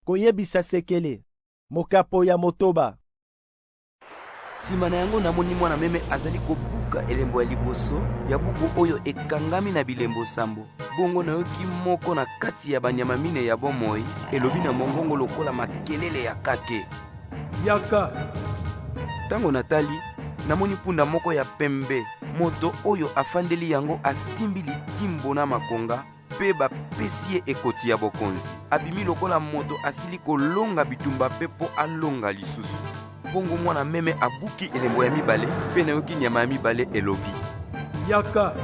Koyebisa sekele, mokapo ya motoba. Sima na yango, namoni mwana meme azali kobuka elembo ya liboso ya buku oyo ekangami na bilembo sambo. Bongo nayoki moko na kati ya banyama mine ya bomoi elobi na mongongo lokola makelele ya kake, yaka! Ntango natali, namoni mpunda moko ya pembe. Moto oyo afandeli yango asimbi litimbo na makonga mpe bapesi ye ekoti ya bokonzi. Abimi lokola moto asili kolonga bitumba mpe mpo alonga lisusu. Bongo mwana meme abuki elembo ya mibale, mpe nayoki nyama ya mibale elobi, Yaka!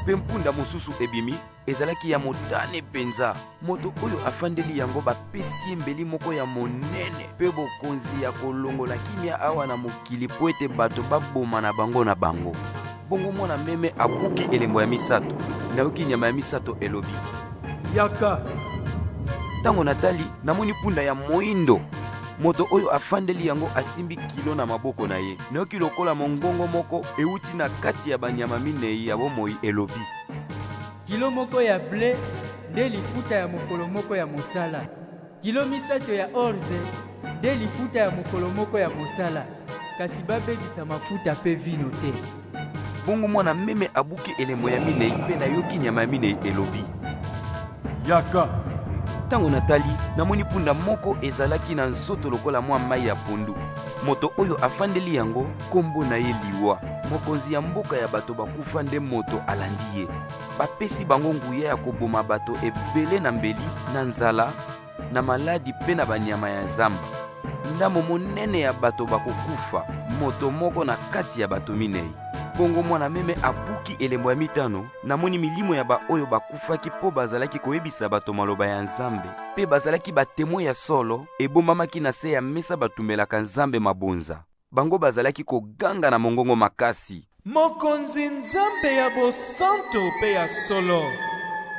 Mpe mpunda mosusu ebimi, ezalaki ya motane mpenza. Moto oyo afandeli yango bapesi ye mbeli moko ya monene mpe bokonzi ya kolongola kimia awa na mokili mpo ete bato baboma na bango na bango. bongo mwana meme abuki elembo ya misato nayoki nyama ya misato elobi yaka ntango natali namoni mpunda ya moindo moto oyo afandeli yango asimbi kilo na maboko na ye nayoki lokola mongongo moko euti na kati ya banyama minei ya bomoi elobi kilo moko ya ble nde lifuta ya mokolo moko ya mosala Kilo misato ya orze nde lifuta ya mokolo moko ya mosala, kasi babebisa mafuta mpe vino te. Bongo mwana meme abuki elembo ya minei mpe nayoki nyama ya minei elobi, Yaka! Ntango natali, namoni mpunda moko ezalaki na nzoto lokola mwa mai ya pondu. Moto oyo afandeli yango, nkombo na ye Liwa. Mokonzi ya mboka ya bato bakufa nde moto alandi ye. bapesi bango nguya ya koboma bato ebele na mbeli na nzala na maladi mpe na banyama ya zamba ndambo monene ya bato bakokufa moto moko na kati ya bato minei bongo mwana meme abuki elembo ya mitano namoni milimo ya baoyo bakufaki mpo bazalaki koyebisa bato maloba ya nzambe mpe bazalaki batemwe ya solo ebombamaki na se ya mesa batumelaka nzambe mabonza Bango bazalaki koganga na mongongo makasi. Mokonzi Nzambe ya bosanto pe ya solo,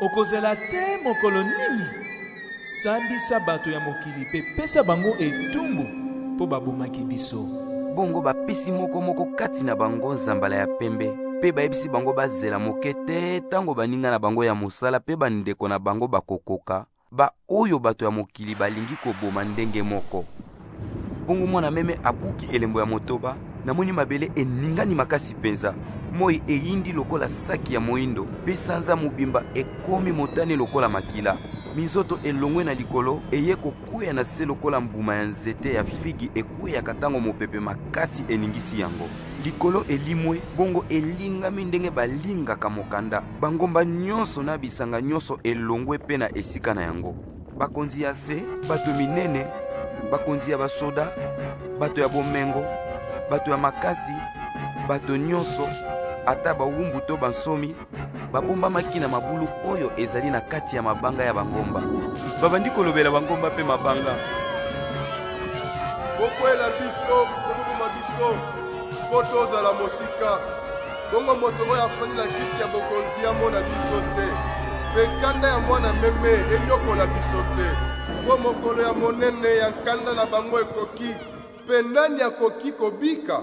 okozela te mokolo nini? Sambisa bato ya mokili pe pesa bango etumbu, po babomaki biso. Bongo bapesi moko moko kati na bango nzambala ya pembe, pe bayebisi bango bazela moke tè tango baninga na bango ya mosala pe bandeko na bango bakokoka, baoyo bato ya mokili balingi koboma ndenge moko. Bongo mwana meme abuki elembo ya motoba, namoni mabele eningani makasi mpenza. Moi eyindi lokola saki ya moindo, mpe sanza mobimba ekomi motane lokola makila. Minzoto elongwe na likolo eye kokweya na se lokola mbuma ya nzete ya figi ekweyaka ntango mopepe makasi eningisi yango. Likolo elimwe, bongo elingami ndenge balingaka mokanda. Bangomba nyonso na bisanga nyonso elongwe mpe na esika na yango. Bakonzi ya se, bato minene, bakonzi ya basoda, bato ya bomengo, bato ya makasi, bato nyonso, ata bawumbu to bansomi, babombamaki na mabulu oyo ezali na kati ya mabanga ya bangomba. Babandi kolobela bangomba mpe mabanga. Bokwela biso, koboma biso, mpo tozala mosika. Bongo moto oyo afandi na kiti ya bokonzi amona biso te, mpe nkanda ya mwana meme enyokola biso te, mpo mokolo ya monene ya nkanda na bango ekoki, mpe nani akoki kobika?